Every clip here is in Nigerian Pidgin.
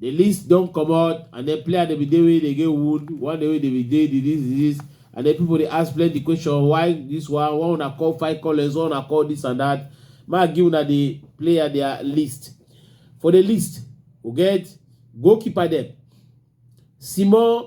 The list don comot and then player dey be dey wey dey get wound, one day wey dey be dey disease disease and then people dey ask plenty question why this one, why una call five callers, why una call this and that. Make I give una the player their list. For the list, we get goalkeeper dem, Simon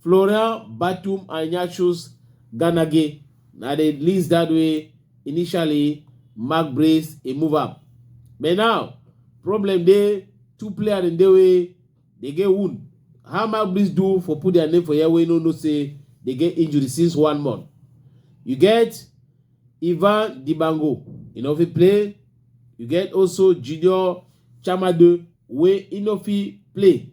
Florian Batum and Ignatius Ganage na the list that way initially Mark Brace he move up. But now problem dey two players in the way they get wound. How Mark Brace do for put their name for here wey no know say they get injury since one month. You get Ivan Dibango, you know fit play. You get also Junior Chamade wey he no fit play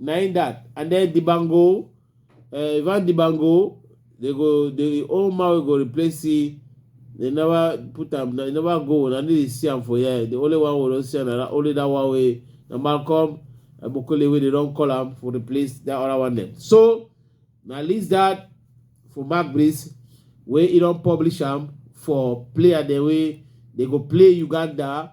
na im that and then Dibango uh, Ivan Dibango they go the old man wey go replace him they never put am they never go na dey see am for here the only one wey don see am na only that one wey na Malcolm Abokole wey they don call am for replace that other one dem so na list that for Mark Breeze wey he don publish am for player dem wey they go play Uganda